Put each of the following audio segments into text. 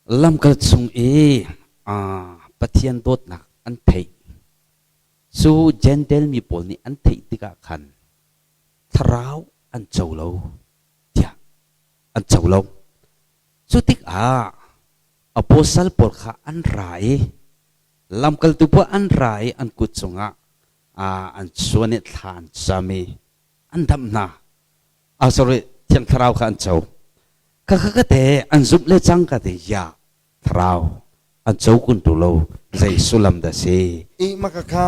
Lamkal chung i Pathian dawtnak an theih. Cu Jentail mi pawl nih an theih tikah khan thlarau an co lo, tiah an co lo. Cu tikah apostle pawl kha an ra i lamkaltu paoh an ra i an kut cungah an suan i thla an cam i an damh hna. a sorry thiang thlarau kha an co kha kha ka te an zumh le cang ka te ya thlarau an co kun tu lo zei sullam dah si i maka kha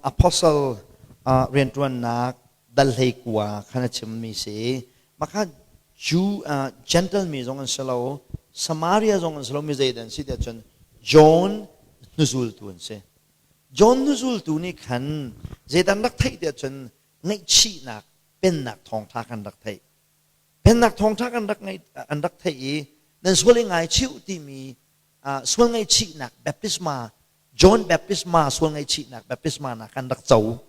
apostle riantuannak dal hlei kua khan a chimmi si maka Jew uh, Gentile mi zong an si lo Samaria zong an si lo mi zei dan si tiah cun John hnuzultu an si John hnuzultu nih khan zeidan rak theih tiah cun ngaihchihnak Pennak thawngṭha kan rak theih. Pennak thawngṭha kan rak ngeih, an rak theih i nan sual i ngaichih timi uh, sual ngaihchihnak baptisma John baptisma sual ngaihchihnak baptisma nak kan rak co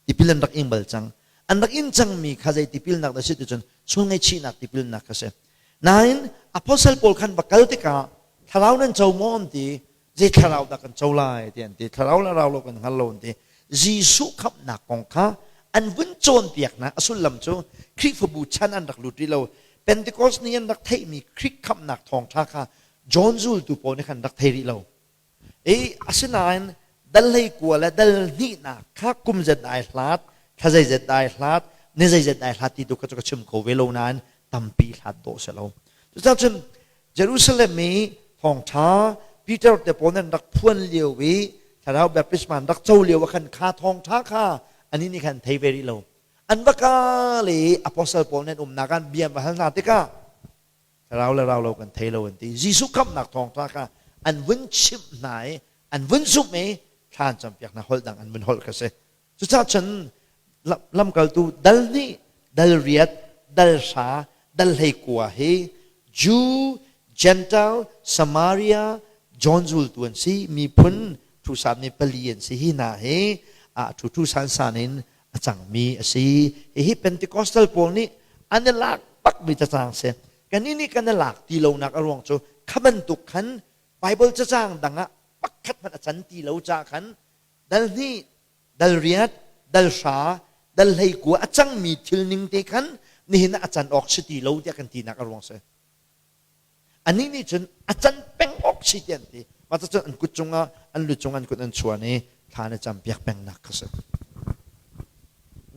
tipil an rak ing bal cang an rak in cangmi kha zei tipilnak dah si ticun sual ngaihchihnak tipilnak kha si nain apostle paul khan va kal tikah thlarau nan co maw an ti zei thlarau dah kan co lai ti an ti thlarau le rau lo kan hngal lo an ti Jesuh khamhnak kong kha an vun cawnpiaknak a sullam cu Khrihfabu chan an rak lut rih lo Pentecost ni an rak theihmi Khrih khamhnak thawngṭha kha John zultu pawl nih khan rak thei rih lo i asinain dal hleikua le dal hnihnak kha kum zet ai hlat thla zeizet ai hlat ni zeizet ai hlat ti tu kha cu ka chim ko ve lo nain tampi hlat dawh a si lo cucahcun Jerusalem i thawngṭha Peter te pawl nan rak phuan lio i Thlarau baptisma an rak co lio ah khan kha thawngṭha kha anih nih khan thei ve rih lo. An va ka le i apostle pawl nih an umnak ah bia an va hal hna tikah thlarau le rau lo kan thei lo an ti. Jesuh khamhnak thawngṭha kha an vun chimh hna i an vun zumh i thla an campiak hna holh dang an vun holh kha a si. Cucah cun lamkaltu dal hnih, dal riat, dal hra, dal hleikua hi Jew, Gentile, Samaria, John zultu an si, miphun ṭhusan mi pali an si hi hna hi a ṭhuṭhu sansan in a cangmi a si. Hihi Pentecostal pawl nih an i lak bakmi cacang a si. Kannih nih kan i lak ti lonak a ruang cu kha bantuk khan Baibal cacang dang ah pakhat hmanh a can ti lo caah khan dal hnih, dal riat, dal hra, dal hleikua a cangmi thil ning te khan nihin ah a can awk si ti lo tiah kan tinak a ruang si. Anih nih cun a can peng awk si ti an ti. Mah cun an kut cungah, an lu cungah an kut an chuan i thla na campiak pengnak kha si.